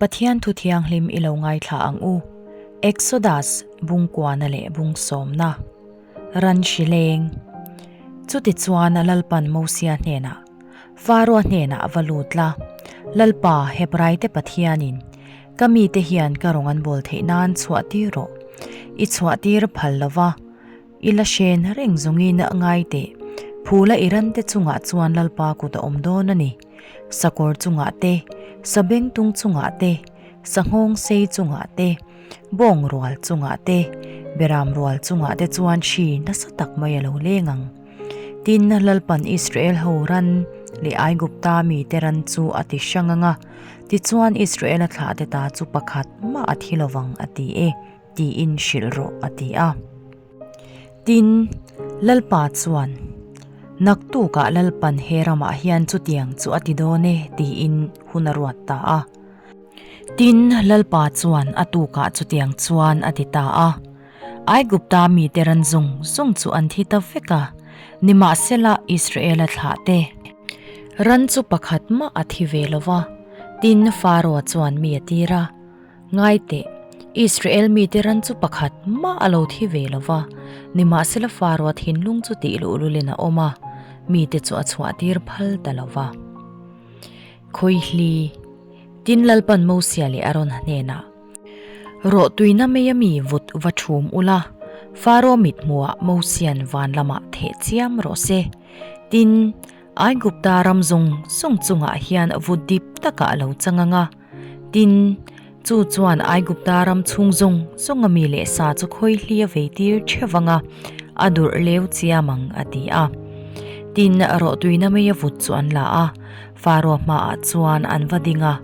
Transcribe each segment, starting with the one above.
Pathian Thu Thianghlim i lo ngaithla ang u. Exodus, Bungkuana leh Bungsawmna, Ran hri leng. Chutichuan Lalpan Mosia hnenah, Faraoh hnenah va lut la, Lalpa, Hebraite Pathianin, ka mite hian ka rawn an bawl theih nan chhuahtir rawh. I chhuahtir phal lova, i la hren reng zawngin ngai teh. Phula i rante chungah chuan Lalpa kut a awm dawn a ni. sakawr chungah te, sabeng tung chungah te, sanghawng sei chungah te, bawng rual chungah te, beram rual chungah te chuan hri nasa tak mai a lo leng ang. Tin, Lalpan Israel ho ran leh Aigupta mite ran chu a ti hrang ang a, tichuan Israela thlahte ta chu pakhat mah a thi lovang a ti e, tiin hrilh rawh a ti a. Tin, Lalpa chuan, Naktukah Lalpan he ramah hian chutiang chu a ti dawn e, tiin hun a ruat ta a. Tin, Lalpa chuan a tukah chutiang chuan a ti ta a, Aigupta mite ran zung zung chu an thi ta vek a, nimahsela Israela thlahte ran chu pakhat mah a thi ve lo va. Tin, Faraw chuan mi a tir a. Ngai teh, Israel mite ran chu pakhat mah a lo thi ve lo va, nimahsela Faraoa thinlung chu tih luh luh in a awm a, mite chu a chhuahtir phal ta lo va. Khawihli, Tin Lalpan Mosia leh Aron hnenah, Rawh tuina meia mi vut va thum ula, Faraoa mithmuah Mosian van lamah theh chiam rawh se. Tin, Aigupta ram zung zung chungah hian vut dip taka a lo changa nga. Tin, chu chuan Aigupta ram chhung zawng zawnga mi leh sa chu khawi hlia vei tir theuh anga a durh leu chiam ang a ti a. Tin, rawh tuina mai a vut chu an la a, Faraw hmaah chuan an va ding a.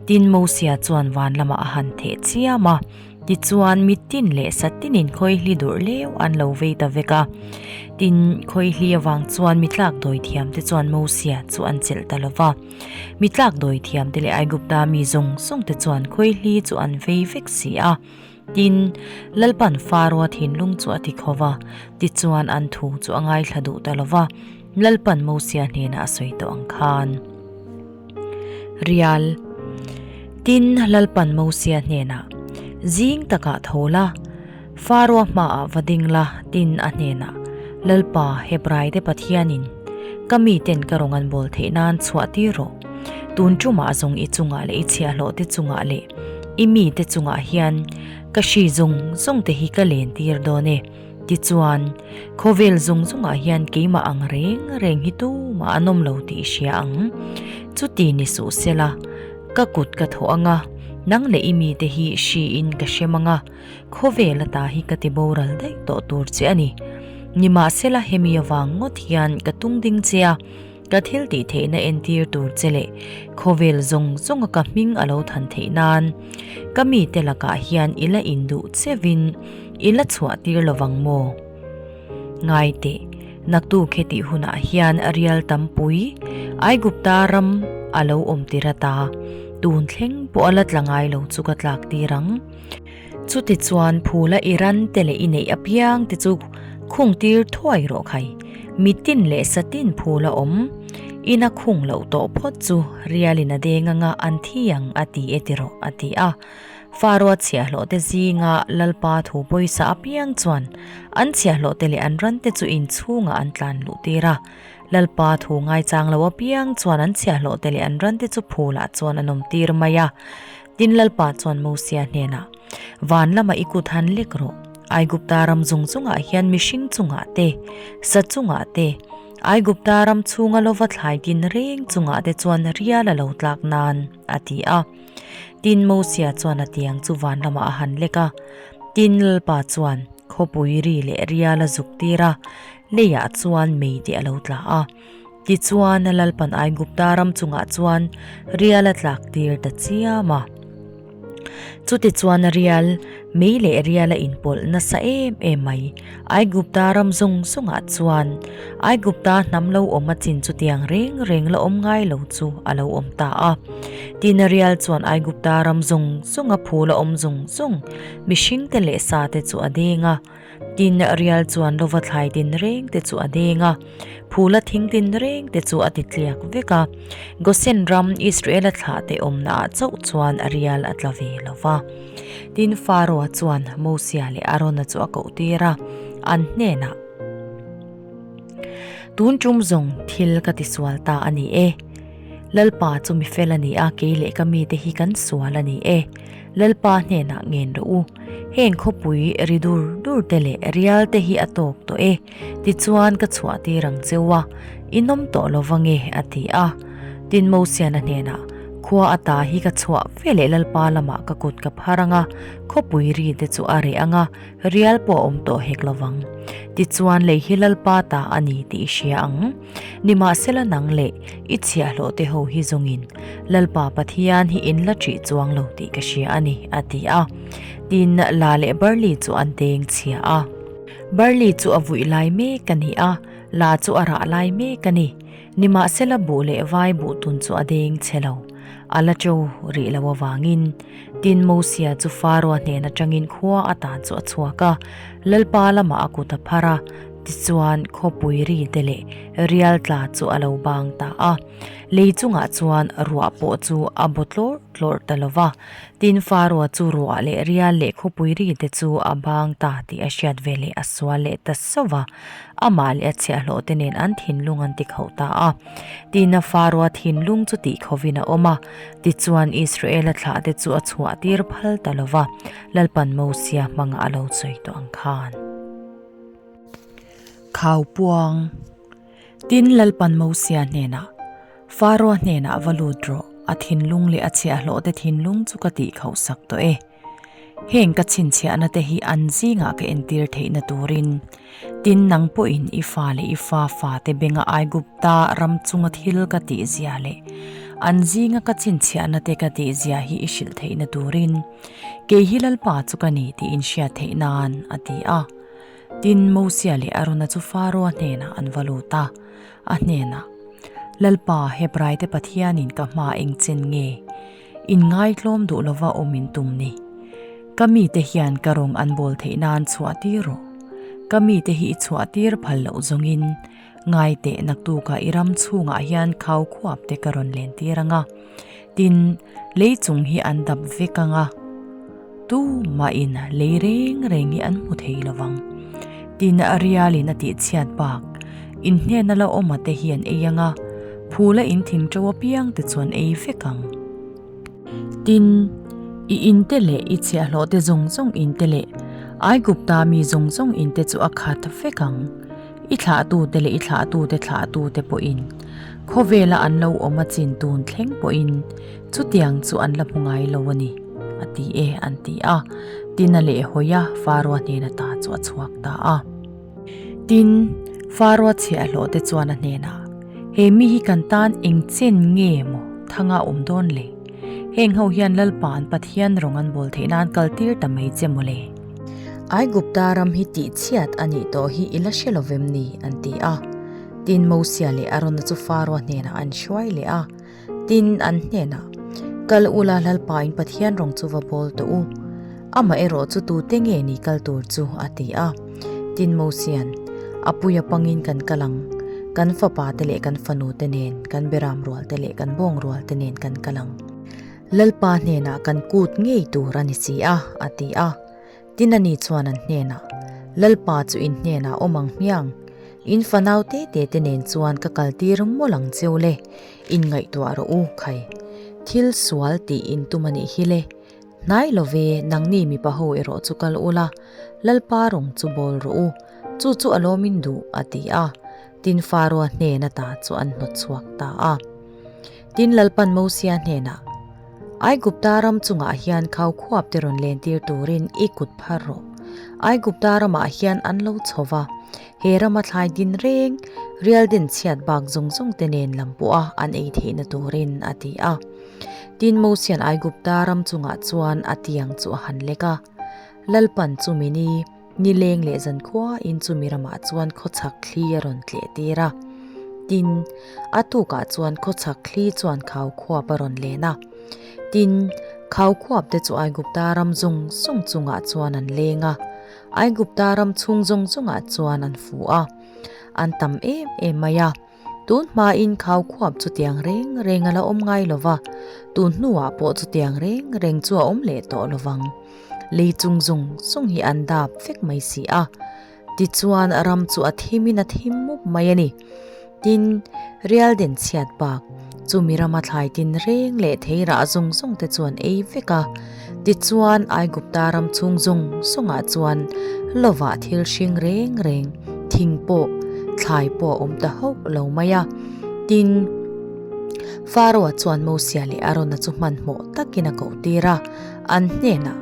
Tin, Mosia chuan van lamah a han theh chiam a, tichuan mittin leh satinin khawi hli durh leu an lo vei ta vek a. Tin, khawi hli avang chuan mi tlak dawithiamte chuan Mosia chu an chelh ta lo va. Mi tlak dawi thiam te leh Aigupta mi zawng zawng te chuan khawihlî chu an vei vek si a. Tin, Lalpan Faraoa thinlung chu a ti kho va, tichuan an thu chu a ngaithla duh ta lo va, Lalpan Mosia hnênah a sawi tawh ang khân. Rial. Tin, Lalpan Mosia hnênah, Zîng takah tho la, Faroa hmaah va ding la, tin a hnenah, Lalpa, Hebraite Pathianin ka miten ka rawn an bawl theih nan chhuahtir rawh. Tun ṭumah a zawng i chungah leh i chhiahhlawhte chungah leh i mite chungah hian ka hri zawng zawngte hi ka lentir dawn e. Tichuan, khawvel zawng zawngah hian keimah ang reng reng hi tumah an awm lo tih i hria ang. Chuti ni suh sela, ka kut ka thawh anga, nang leh i mite hi hriin ka hre mang a. khawve lata hi ka ti boral daih tawh tur che a ni. Nimahsela hemi avang ngawt hian ka tung ding che a, ka thil tih theihna entir tur che leh khawvel zawng zawnga ka hming a lo than theih nan, ka mite lakah hian i la induh chevin i la chhuah tir lo vang maw? Ngai teh, naktu khe tih hunah hian rial tam pui Aigupta ram a lo awm tir ata, tun thleng pawh a la tla ngai lo chu ka tlak tir ang. Chuti chuan phula i ran te leh i neih apiang te chu khung tir thuai rawh khai. Mitin leh satin phul a awm. Ina khung loh tawh phawt chu Rialin a deng anga an thi ang a ti e ti rawh a ti a. Fa ruatchhiah hlawh te zinga Lalpa thu pawisa apiang chuan an chhiah hlawh te leh an ran te chu inchhungah an tlan luh tir a. Lalpa thu ngaichang lo apiang chuan an chhiah hlawh te leh an ran te chu phulah chuan an awm tir mai a. Tin Lalpa chuan Mosea hnenah, Van lama i kut han lek rawh. Aigupta ram zung zungah hian mihring chungah te, sa chungah te, Aigupta ram chhunga lova thlai din reng chungah te chuan rial a lo tlak nan, a ti a. Tin Mosea chuan a tiang chu van lamah a han lek a. Tin Lalpa chuan khawpui ri leh rial a zuk tir a, leiah chuan mei te a lo tla a. Tichuan Lalpan I Gupta ram chungah chuan rial a tlak tir ta chiam a. Chuti chuan rial, mei leh rial a inpawlh nasa em em mai. I Gupta ram zawng zawngah chuan I Gupta hnam lo awm a chin chutiang reng reng la awm ngai lo chu a lo awm ta a. Tin, rial chuan I Gupta ram zawng zawng a phul a awm zung zung. Mihringte leh sate chu a deng a. Tin rial chuan lova thlai din reng te chu a deng a, phula thing din reng te chu a ti tliak vek a. Gosen ram Israela thlah te awmnaah chauh chuan rial a tla ve lo va. Tin Faraoh-a chuan Mosia leh Arona chu a koh tir a, an hnenah, Tun tum zawng thil ka ti sual ta a ni e. Lalpa chu mi fel a ni a, kei leh ka mite hi kan sual a ni e. Lalpa hnenah ngen rawh u, heng khawpui ri dur dur te leh rial te hi a tawk tawh e, tichuan ka chhuah tir ang cheu a, i nawm tawh lo va nge? a ti a. Tin Mosiana hnenah khua ata hi ka chhuah ve leh Lalpa lamah ka kut ka phar ang a, khawpui ri te chu a reh ang a, rial pawh a awm tawh hek lo vang. Tichuan lei hi Lalpa ta a ni tih i hria ang. Nimahsela nang leh i chhiahhlawh te ho hi zawngin Lalpa Pathian hi in la ṭih chuang lo tih ka hria a ni, a ti a. Tin, La leh Barley chu an teng chhia a. Barley chu a vuih lai mek a ni a, La chu a rah lai mek a ni. Nimahsela buh leh vai buh tun chu a deng che lo, a la ṭo rih lo avangin. Tin, Mosia chu Faraoh hnen aṭangin khua atan chu a chhuak a, Lalpa lamah a kut a phar a. Tichuan khawpui ri te leh rial tla chu a lo bang ta a, lei chungah chuan ruah pawh chu a baw tlawr tlawr ta lova, tin faruah chu ruah leh rial leh khawpui ri te chu a bang ta tih a hriat ve leh a sual leh ta sova, amah leh a chhiahhlawh te nen an thinlung an ti khauh ta a, tin a faruah thinlung chu tih khawhin a awm a, tichuan Israela thlah te chu a chhuah tir phal ta lova, Lalpanmawsia hmanga a lo sawi tawh ang khan. Khau puang. Tin Lalpan Mosia hnenah, Faraw hnenah va lut rawh, a thinlung leh a chhiahhlawhte thinlung chu ka tih khauh sak tawh e. Heng ka chhinchhiahnate hi an zingah ka entir theihna turin, tin nang pawhin i fa leh i fa fate benga Aigupta ram chunga thil ka tihzia leh an zinga ka chhinchhiahnate ka tihzia hi i hrilh theihna turin, Kei hi Lalpa chu ka ni tiin hriat theih nan, a ti a. Tin, Mosia leh Arona chu Faraoa hnenah an va lut a, a hnenah, Lalpa, Hebraite Pathianin ka hma eng chen nge? In ngaitlawm duh lova awm in tum ni? Ka mite hian ka rawng an bawl theih nan chhuah tir rawh. Ka mite hi i chhuah tir phal loh zawngin, ngai tehna tukah i ram chhungah hian khau khuap te ka rawn len tir anga, tin, lei chung hi an dap vek anga, tumahin lei reng reng hi an hmu thei lovang. Tin, Rialin a tih chhiat bak, Inhnena la awm a te hian ei anga, phula in thing to apiang te chuan ei vek ang. Tin, i in te leh i chhiahhlawh te zawng zawng in te leh Aigupta mi zawng zawng in te chu a khat vek ang. I thlahtute leh i thlahtute thlahtute pawhin khawvela an lo awm a chin tun thleng pawhin chutiang chu an la hmu ngai lo a ni a ti e an ti a. Tin a leh hawi a, Farua hnen ata chu a chhuak ta a. Tin, Farua chhe a hlawh te chuan a hnenah, He mi hi kan tan eng chen nge maw thanga a awm dawn le? Heng ho hian Lalpa an Pathian rawn an bawl theihna an kal tir ta mai che maw le? Aigupta ram hi tih chhiat a nih tawh hi i la hre lovem ni? an ti a. Tin Mosia leh Arona chu Faraw hnenah an hruai leh a. Tin, an hnenah, Kal ula hlalpa in Pathian rawng chu va bawl tawh u. Amah erawh chu tute nge ni kal tur chu? a ti a. Tin Mosia'n, Apui apangin kan kal ang. Kan fapate leh kan fanute nen, kan beram rualte leh kan bawng rualte nen kan kal ang. Lalpa hnenah kan kut ngei tur a ni si a, a ti a. Tinani chuan an hnenah, Lalpa chu in hnenah awm ang hmiang. In fanau te te te nen chuan ka kal tir mawlh ang cheu le, in ngaihtuah rawh u khai. Thil sual tih in tum a nih hi le. Hnai lo ve, nangni mipa ho erawh chu kal ula, Lalpa rawng chu bawl rawh u, chu chu a lawm in duh, a ti a. Tinfa rua hnena ta chu an hnawt chhuak ta a. Tin Lalpan Mosia hnenah, Aigupta ram chungah hian khau khuap te rawn len tir turin i kut phar rawh. Aigupta ramah hian an lo chho va, he rama thlai din reng, rial din chhiat bak zawng zawng te nen lam pawha an ei theihna turin a ti a. Tin Mosian Aigupta ram chungah chuan a tiang chu a han lek a, Lalpan chu min i, Ni leng leh zan khuain chu Miramah chuan khawchhak thli a rawn tleh tir a. Tin, a tukah chuan khawchhak thli chuan khau khuap a rawn len a. Tin, khau khuap te chu Aigupta ram zawng zawng chungah chuan an leng a. Aigupta ram chhung zawng zawngah chuan an fuh a. An tam em em mai a. Tun hmain khau khuap chu tiang reng reng a la awm ngai lo va, tun hnuah pawh chu tiang reng reng chu a awm leh tawh lo vang. Lei chung zung zung hi an dap vek mai si a, tichuan ram chu a thimin a thim mup mai a ni. Tin, Rialden chhiat bak. Chumi rama thlai tin reng leh thei rah zawng zawng te chuan ei vek a. Tichuan Aigupta ram chhung zawng zawng ah chuan lova thil hring reng reng, thing pawh, thlai pawh a awm ta hauh lo mai a. Tin, Pharaoh-a chuan Mosea leh Arona chu hmanhmawh takin a koh tir a, an hnenah,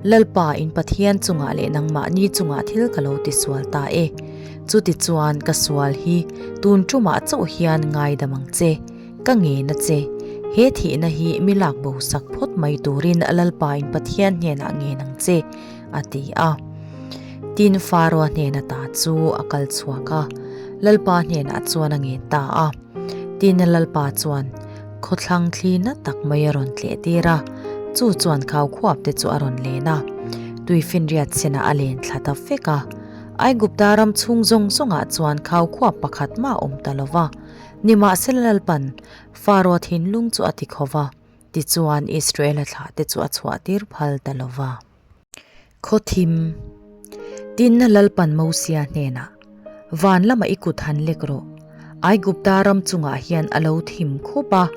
Lalpa in Pathian chungah leh nangmahni chungah thil ka lo tisual ta e. Chutichuan ka sual hi tun tumah chauh hian ngaidam ang che, ka ngena che. He thihna hi milak bosak phawt mai turin Lalpa in Pathian hnenah ngen ang che, a ti a. Tin Faraw hnena ta chu a kal chhuak a, Lalpa hnenah chuan a ngen ta a. Tin Lalpa chuan, Khawthlang thli na tak mai a rawn tleh tir a, chu chuan khau khuap te chu a rawn len a, tui finriat sena a len thla ta vek a. Aigupta ram chhung zawng zawngah chuan khau khuap pakhat mah awm ta lova, nimahse Lalpan, Faraw thinlung chu a ti khova, tichuan Israela thla te chu a chhuah tir phal ta lova. Khawthim, Tinna Lalpan Mosia hnenah, Van lamah i kut han lek rawh. Aigupta ram chungah hian a lo thim khup a,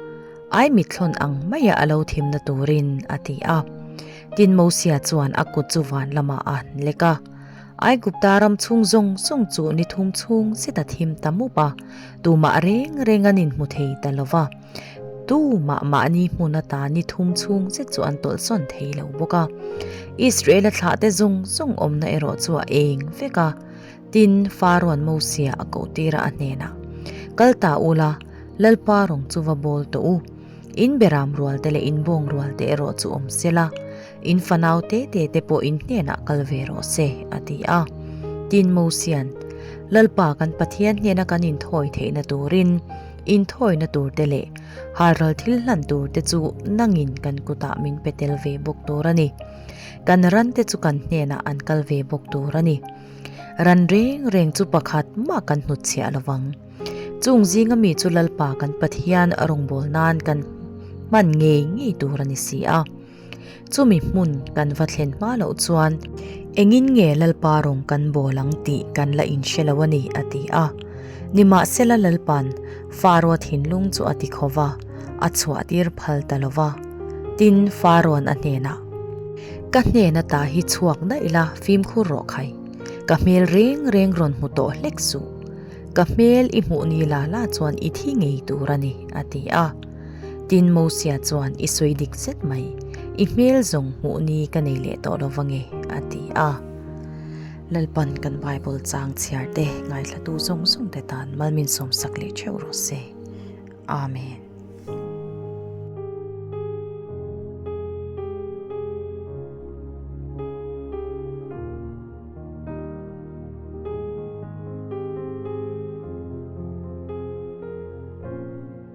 ai mitthlawn ang maia a lo thimna turin a ti a. Tin Mosia chuan a kut chu van lamah a han lek a. Aigupta ram chhung zawng zawng chu ni thum chhung zeta thim ta mup a, tumah reng renga'n inhmu thei ta lo va. Tu mah mahni hmun ata ni thum chhung che chu an tawlhsawn thei lo bawk a. Israela thlah te zung zung awmna erawh chu a eng vek a. Tin, Faraon Mosea a koh tir a a hnenah, Kal ta ula, Lalpa rawng chu va bawl tawh u. In beram rual te leh in bawng rual te erawh chu awm sela, in fanau te te te pawh in hnenah kal ve rawh se, a ti a. Tin, Mosea'n, Lalpa kan Pathian hnena kan inthawi theihna turin, Inthawina turte leh harlal thil hlan turte chu nangin kan kutah min pe tel ve bawk tur a ni. Kan rante chu kan hnenah an kal ve bawk tur a ni. Ran reng reng chu pakhat mah kan hnut chhiah lo vang. Chung zinga mi chu Lalpa kan Pathian a rawngbâwl nân kan hman ngei ngei tur a ni si a. Chumi hmun kan va thlen hma loh chuan, Engin nge Lalpa rawn kan bawl ang tih kan la inhre lo a ni, a ti a. Nimahsela Lalpa'n Faroa thinlung chu a ti kho va, a chhuahtir phal ta lo va. Tin, Faroan a hnenah, Ka hnen atah hi chhuak daih la, fimkhur rawh khai. Ka hmel reng reng rawn hmu tawh hlek suh. Ka hmel i hmuh ni la la chuan i thi ngei tur a ni, a ti a. Tin Mosia chuan, I sawi dik zet mai, i hmel zawng hmuh ni ka nei leh tawh lo va nge? a ti a. Lalpan kan Bible chang chhiar te, ngaihhlatu zawng zawng te tan mal min sawm sak leh theuh rawh se. Amen.